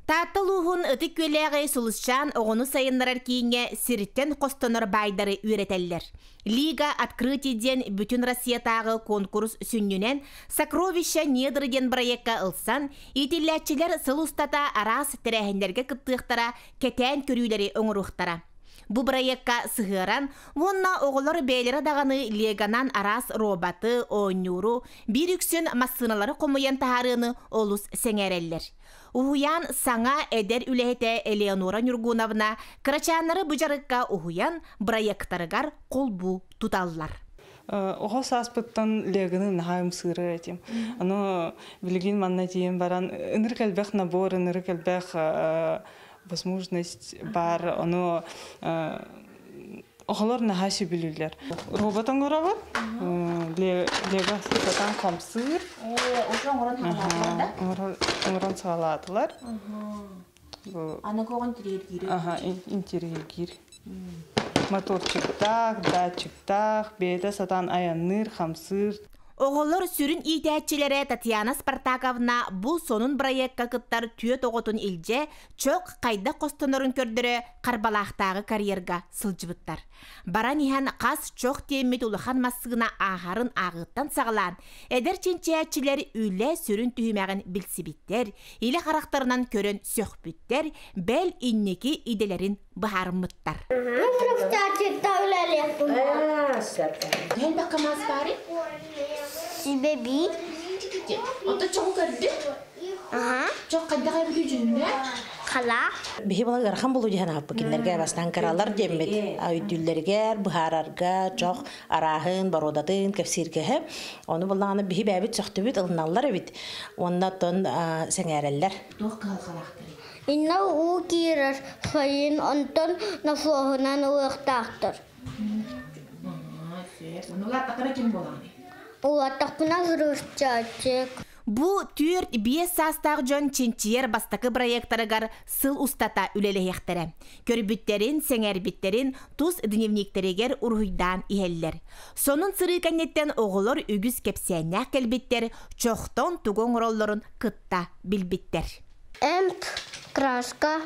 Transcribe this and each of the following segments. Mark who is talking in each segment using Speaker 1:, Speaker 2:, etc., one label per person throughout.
Speaker 1: Таатта улууһун
Speaker 2: Ытык Күөлээҕи Сулусчаан оҕону сайыннарар кииҥҥэ сириттэн хостонор баайдары үөрэтэллэр. Лига «Открытие» диэн бүтүн Россиятааҕы конкурс сүнньүнэн «Сокровища недр» диэн бырайыакка ылсан, иитиллээччилэр сыл устата араас тэрээһиннэргэ кыттыахтара, кэтээн көрүүлэри оҥоруохтара. Бу бырайыакка сыһыаран уонна оҕолор бэйэлэрэ даҕаны леганан араас роботы, оонньууру, биир үксүн массыыналары хомуйан таһаарыыны олус сэҥээрэллэр. Уһуйаан саҥа эдэр үлэһитэ Элеонора Ньургуновна кырачааннары бу дьарыкка уһуйан бырайыактарыгар холбуу туталлар. Оҕо
Speaker 3: сааспыттан Леганы наһаа ымсыырар этим. Аны билигин манна тиийэн баран ынырык элбэх набор, ынырык элбэх возможность баар. Ону оҕолор наһаа сөбүлүүллэр. Робот оҥоробут. Лего сытатан хамсыыр. Оҥорон саҕалаатылар да? Оҥорон саҕалаатылар.
Speaker 2: Аны көҕөн тириэргиир. Аха, интириэргиир.
Speaker 3: Моторчуктаах, датчиктаах, бэйэтэ сатаан айанныыр, хамсыыр. Оҕолор
Speaker 2: сүрүн иитээччилэрэ Татьяна Спартаковна бу сонун бырайыакка кыттар түөрт оҕотун илдьэ, чөх хайдах хостонорун көрдөрө Харбалаахтааҕы карьерга сылдьыбыттар. Баран иһэн хас чох тиэммит улахан массыына ааһарын ааҕыттан саҕалаан, эдэр чинчийээччилэр үлэ сүрүн түһүмэҕин билсибиттэр, илэ харахтарынан көрөн сөхпүттэр, бэл инники идэлэрин быһаарыммыттар. Дьон да камаас баары?
Speaker 1: Сибэбии?
Speaker 2: Оттон чоҕу көрдү? Чох хайдах эбитий дьүннэ? Хала.
Speaker 1: Биһи бала ыарахан
Speaker 4: булуу дьиһэн аһаппыт кинилэргэ бастаан кыралар диэммит өйдүүллэригэр, быһаарарга чох арааһын, боруодатын кэпсииргэһэ. Ону буллаҕына биһи бэбит сөхтүбүт, ылыналлар эбит. Онна тон сэҥээрэллэр. Туох
Speaker 2: кыһалхалаахтарый? Инна уу
Speaker 1: киирэр сайын онтон носуоһунан ылыахтаахтар.
Speaker 2: Ону улааттахтара ким буолаҕын? Улааттахпына
Speaker 1: ырыысчачык. Бу
Speaker 2: түөрт-биэс саастаах дьон чинчийэр бастакы проектарыгар сыл устата үлэлэһиэхтэрэ. Көрбүттэрин, сэҥээрбиттэрин тус дневниктэригэр уруһуйдаан иһэллэр. Сонун сырыы кэнниттэн оҕолор үгүс кэпсээннээх кэлбиттэр, чохтон тугу оҥороллорун кытта билбиттэр. Эмп,
Speaker 1: краска,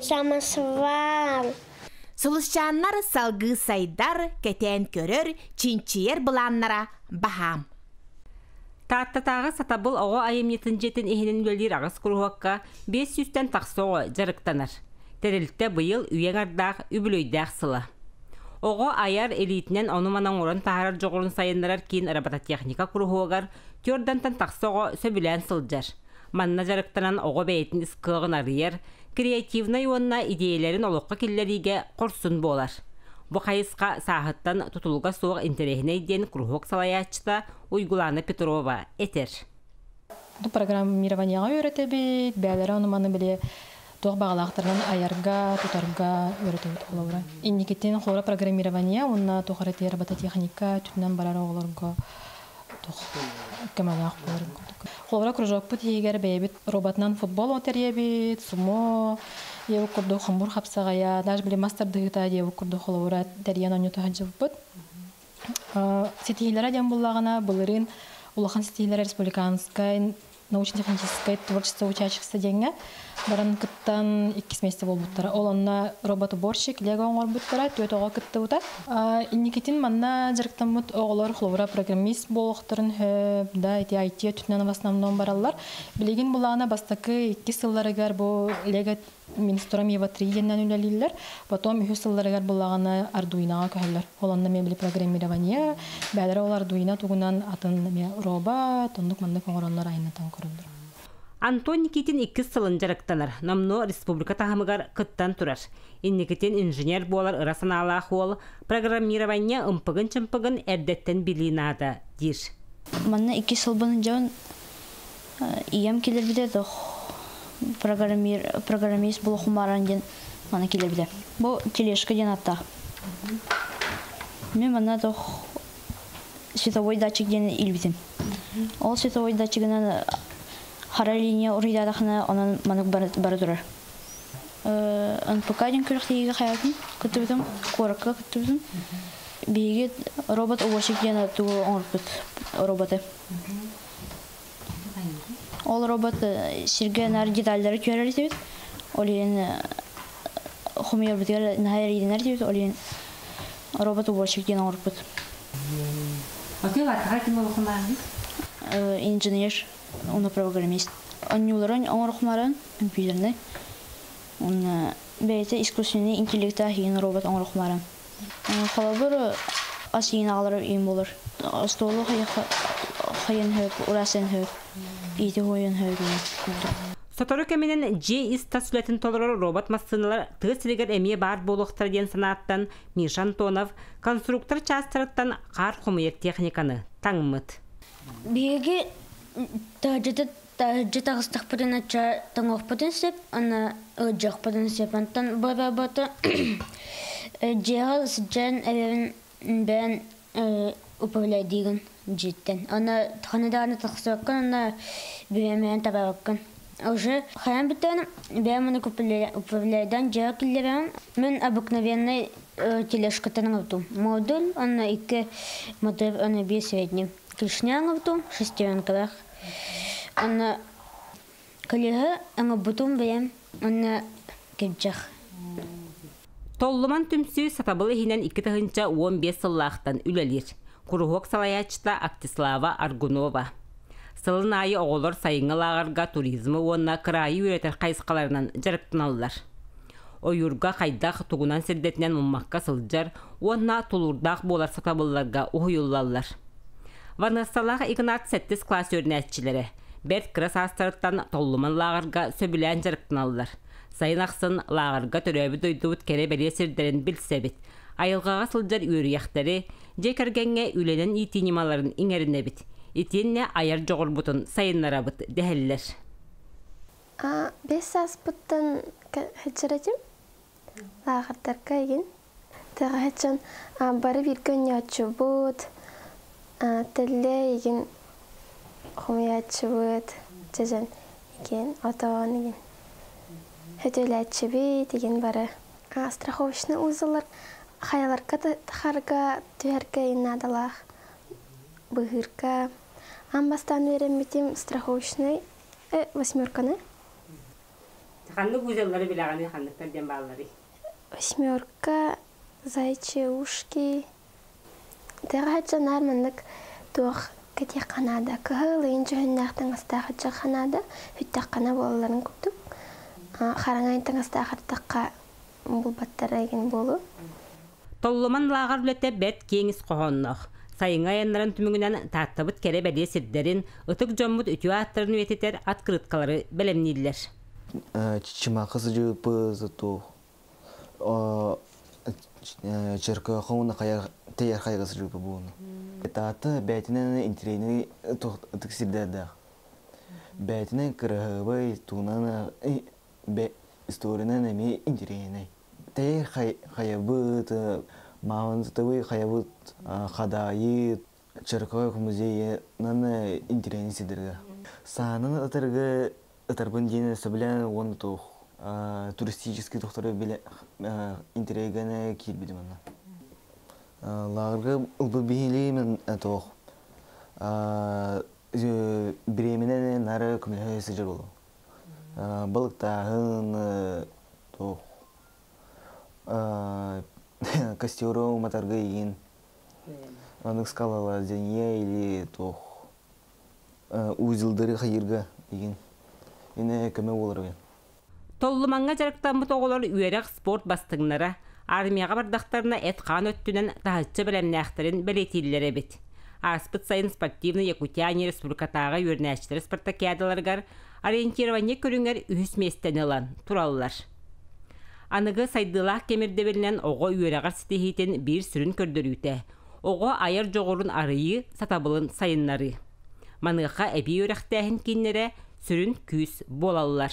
Speaker 1: Самосвал. Сулусчааннар
Speaker 2: салгыы сайдар, кэтээн көрөр, чинчийэр былааннара баһаам. Тааттатааҕы сатабыл оҕо айымньытын дьиэтин иһинэн үлэлиир аҕыс куруһуокка биэс сүүстэн тахса оҕо дьарыктанар. Тэрилтэ быйыл үйэҥ ардаах үбүлүөйдээх сыла. Оҕо айар илиитинэн ону-маны оҥорон таһаарар дьоҕурун сайыннарар киин робототехника куруһуогар түөрдэнтэн тахса оҕо сөбүлээн сылдьар. Манна дьарыктанан оҕо бэйэтин ис кыаҕын арыйар, креативнай уонна идиэйэлэрин олоххо киллэриигэ хорсун буолар. Бу хайысха сааһыттан тутулуга суох интэриэһинэй диэн куруһуок салайааччыта Уйгулаана Петрова этэр. Бу
Speaker 5: программированиеҕа үөрэтэбит, бэйэлэрэ ону-маны билэ Туох баҕалаахтарынан айарга, тутарга үөрэтэбит оҕолору. Инникитин хора программирование уонна туох эрэ робототехника өттүнэн барар оҕолорго туох көмөлөөх буолар курдук. Хора кружокпут иһигэр бэйэбит роботынан футбол отериэбит, сумо диэбит курдук хомур хапсаҕайа, даже били мас тардыһыыта диэбит курдук холобура тэрийэн оонньото сылдьыбыппыт. ситиһиилэрэ диэн буллаҕына былырыын улахан ситиһиилэр республиканскай научно-техническай творчество учаачыкса диэҥҥэ баран кыттан иккис миэстэ буолбуттара. Ол онно робот-уборщик лего оҥорбуттара, түөрт оҕо кыттыбыта. Инникитин манна дьарыктаммыт оҕолор холобура программист буолуохтарын сөп да, ити IT өттүнэн в основном бараллар. Билигин булаана бастакы иккис сылларыгар бу лего Минстромева три иэнинэн үлэлииллэр. Потом үһүс сылларыгар былаҕаны Ардуинаҕа көһөллөр. Ол онно мебель программирование, бээлэрэ ол Ардуина тугунан атын эмиэ роба, тоннук-маннык оҥороннор айаннатан көрөллөр. Антон
Speaker 6: Никитин иккис сылын дьарыктанар, номнуо республика таһымыгар кыттан турар. Инникитин инженер буолар ыра санаалаах уол, программирование ымпыгын-чымпыгын эрдэттэн билии наада, диир. Манна икки
Speaker 7: сылбын дьон ийэм кэлэбитэ да программист була хумааран диэн мана кэлэбитэ бу тележка диэн атта мен мана то световой датчик диэн илбитим ол световой датчигынан хара линия уруйдаатахына онон манук бары турар НПК диэн күрэхтииге хаятын кыттыбытым куоракка кыттыбытым биһиги робот уборщик диэн тугу оҥорпут роботы Ол робот сиргэ наар детальдары түһэрэр этибит. Ол иһин хомуйарбытыгар наһаа эрэйдэнэр этибит. Ол иһин робот уборщик диэн оҥорбут. Отель арҕаа ким олохунааҕый? Инженер, уно программист. Онньуулары оҥорохмаран, компьютернай. Уонна бэйэтэ искусственный интеллект аах иин робот оҥорох баран. Холобур, ас иин аҕалар иин булар. Остуолу хайан хөр, ураасан хөр, иити хуойан хөр иин курдук. Сотору
Speaker 6: кэминэн дьиэ ис тас үлэтин толорор робот массыыналар тыа сиригэр эмиэ баар буолуохтара диэн санааттан Миша Антонов конструктор чаастарыттан хаар хомуйар техниканы таҥмыт. Биһиги
Speaker 1: таһырдьата Таһырдьа тахыстахпытына ча тоҥуохпутун сөп, аны ыалдьыахпытын сөп. Онтон бу работа дьиэҕэ сылдьан эбэбин бэйэн управляйдыыгын дьиэттэн. Аны ханна даҕаны тахсыбаккын, аны бэйэм бэйэм табаарбаккын. Уже хайаан бүттэҕинэ бэйэм аны управляйдан дьиэҕэ киллэрэн, мин обыкновенный тележкаттан оҥордум. Модуль, аны икки мотор, аны биир средний. Клешня оҥордум, шестеренкалаах. Онно көлүөһэ оҥорбутум бэйэм уонна кирдьэх
Speaker 6: Толлуман түмсүү сатабыл иһинэн икки тыһыынча уон биэс сыллаахтан үлэлиир. Куруһуок салайааччыта Артислава Аргунова. Сылын аайы оҕолор сайыҥҥы лааҕырга туризмы уонна кыраайы үөрэтэр хайысхаларынан дьарыктаналлар. ойуурга хайдах тугунан сирдэтинэн муммакка сылдьар уонна тулуурдаах буолар сатабылларга уһуйуллаллар. Ваныссалаах Игнат сэттис класс үөрэнээччилэрэ бэрт кыра саастарыттан толлуман лааҕырга сөбүлээн дьарыктаналлар. Сайын ахсын лааҕырга төрөөбүт дойдубут кэрэ-бэлиэ сирдэрин билсэбит, айылҕаҕа сылдьар үөрүйэхтэри, дьиэ кэргэҥҥэ үлэнэн иитии ньымаларын иҥэринэбит, итиэннэ айар дьоҕурбутун сайыннарабыт дэһэллэр.
Speaker 8: бэс сааспыттан сылдьар этим лааҕырдарга игин тэҕэһэ дьон бары бииргэ оонньооччубут тэллэ игин хомуйааччыбыт дьэдьэн игин отоон игин хөтөлөөччүбүт игин бары страховочный узалар хайаларга тахарга түһэргэ наадалаах быһыырга ам бастаан үөрэммитим страховочный восьмерканы
Speaker 6: ханнык узеллары билэҕиний ханныктар диэн баалларый восьмерка
Speaker 8: зайчи ушки тэҕэһэччэ наар маннык туох кэтиэххэ наада кыһыл ыйын дьүһүннээх таҥастаах ыччакха наада бүттэххэ буолларын курдук хараҥа ыйын таҥастаах артахха булбаттара эгин буолу Толломан
Speaker 6: лааҕыр үлэтэ бэрт киэҥ ис хоһоонноох. Сайыҥҥы айаннарын түмүгүнэн Тааттабыт кэрэ бэлиэ сирдэрин, ытык дьоммут үтүө ааттарын үйэтитэр открыткалары бэлэмнииллэр.
Speaker 9: Чымаакы сыдьыыпы зато Черкоха уна тыйар хайга сыдьыыпы буону. Таата бэйтинэн интирейный ытык сирдэрдээх. Бэйтинэн кырыһыбай туунан бэ историянан эмиэ интэриэһинэй тэйэр хайабыт маалыматытабый хайабыт хадайы чыркоек музейынан интэриэһинэй сидырга саананы ытарга ытарбын диэн сөбүлээн уонна туох туристический тохтору билэ интэриэгэнэ киирбитим онно лагерга ылбы биһилиим туох бириэминэн нары көмөлөһө сыдьыр болу Балыктааһын туох костеру уматарга иин онук скалалар зения или туох узелдары хайырга иин ине көмө болар оген толлуманга
Speaker 6: дьарыктаммыт оҕолор үөрэх спорт бастыҥнара Армияҕа бардахтарына эт-хаан өттүнэн таһыччы бэлэмнээхтэрин бэлиэтииллэр эбит. Ааспыт сайын спортивный Якутяне республикатааҕы үөрэнээччилэр спартакиадаларыгар ориентирование көрүҥэр үһүс миэстэни ылан тураллар. Аныгы сайдыылаах кэмирдэбилинэн оҕо үөрэҕэр ситиһиитин биир сүрүн көрдөрүүтэ оҕо айар дьоҕурун арыйыы, сатабылын сайыннарыы. Маныаха эбии үөрэхтээһин кииннэрэ сүрүн күүс буолаллар.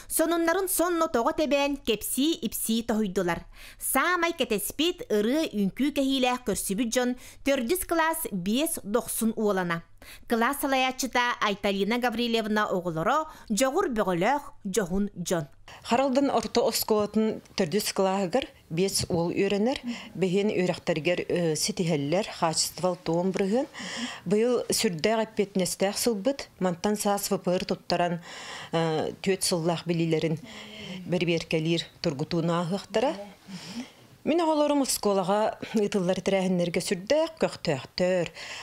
Speaker 2: Сонуннарын сонно тоҕо тэбээн, кэпсии-ипсии тоһуйдулар. Саамай кэтэспит, ырыа үҥкүү кэһиилээх көрсүбүт дьон төрдүс кылаас биэс дохсун уолана. Кылаас салайааччыта Айталина Гаврильевна оҕолоро дьоҕур бөҕөлөөх дьоһун дьон. Харалдан орто
Speaker 10: оскуолатын төрдүс кылааһыгар Биэс уол үөрэнэр, бэһиэн үөрэхтэригэр ситиһэллэр, хаачыстыбал-туом бырыһыан. Быйыл сүрдээх эппиэтинэстээх сылбыт. Мантан саас ВПР туттаран түөрт сыллаах билиилэрин бэрибиэркэлиир тургутууну ааһыахтара. Мин оҕолорум оскуолаҕа ыытыллар тэрээһиннэргэ сүрдээх көхтөөхтөр,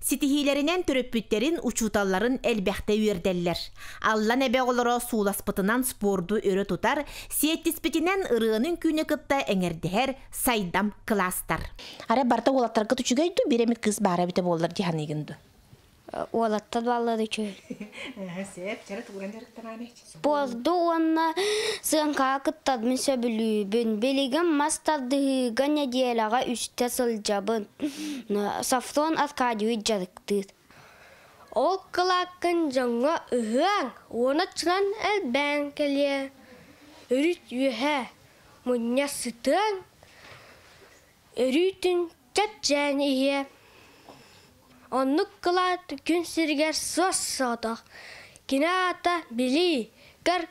Speaker 2: Ситиһиилэринэн төрөппүттэрин, учууталларын элбэхтэ үөрдэллэр. Аллан Эбэ оҕолоро суласпытынан спорду өрө тутар, сиэттиспитинэн ырыаны-үҥкүүнү кытта эҥэрдэһэр сайдам кылаастар. Арай барыта
Speaker 4: уолаттаргыт үчүгэй дуу, биир эмит кыыс баара эбитэ буоллар дии саныыгын дуу? Уолаттар
Speaker 1: бааллар үчүгэй. Сээп,
Speaker 10: чара тугуран дьарыктанааны эч. Спорду уонна
Speaker 1: сыаҥкаҕа кыттарбын сөбүлүүбүн. Билигин мас тардыһыыга нэдиэлэҕэ үстэ сылдьабын. Софрон Аркадьевич дьарыктыыр. Ол
Speaker 8: кылааккын дьоҥҥо ыһыаҥ уонна чынан элбээн кэлиэ. Өрүт үөһэ мунньа сытыаҥ, өрүүтүн Чэпчээн ийэ, оннук кылаат күн сиригэр суос-соотох. Кини аата билии, көр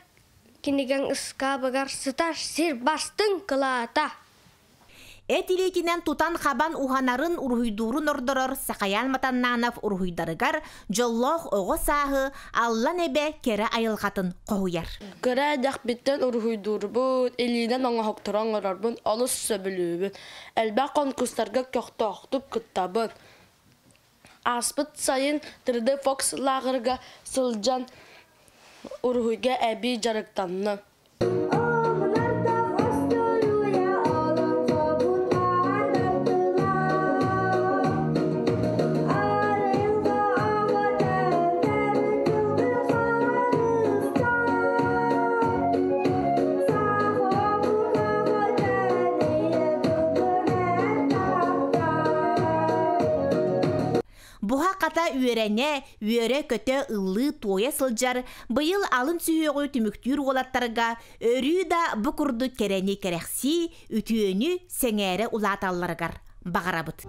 Speaker 8: кинигэҥ ыскаабыгар сытар сир бастыҥ кылаата.
Speaker 2: Эт илиитинэн тутан-хабан уһанарын, уруһуйдуурун ордорор Сахаян Матаннаанап уруһуйдарыгар дьоллоох оҕо сааһы Аллан Эбэ кэрэ айылҕатын хоһуйар. Кыра эрдэхпиттэн
Speaker 11: уруһуйдуурбут, илиинэн оҥоһуктары оҥорорбун олус сөбүлүүбүн. Элбэх конкурстарга көхтөөхтүк кыттабыт. Ааспыт сайын 3D Fox лааҕырга сылдьан уруһуйга эбии дьарыктанна.
Speaker 2: Буһа-хата үөрэнэ, үөрэ-көтө, ыллыы-туойа сылдьар, быйыл алын сүһүөҕү түмүктүүр уолаттарга өрүү да бу курдук кэрэни кэрэхсии, үтүөнү сэҥээрэ улааталларыгар баҕарабыт.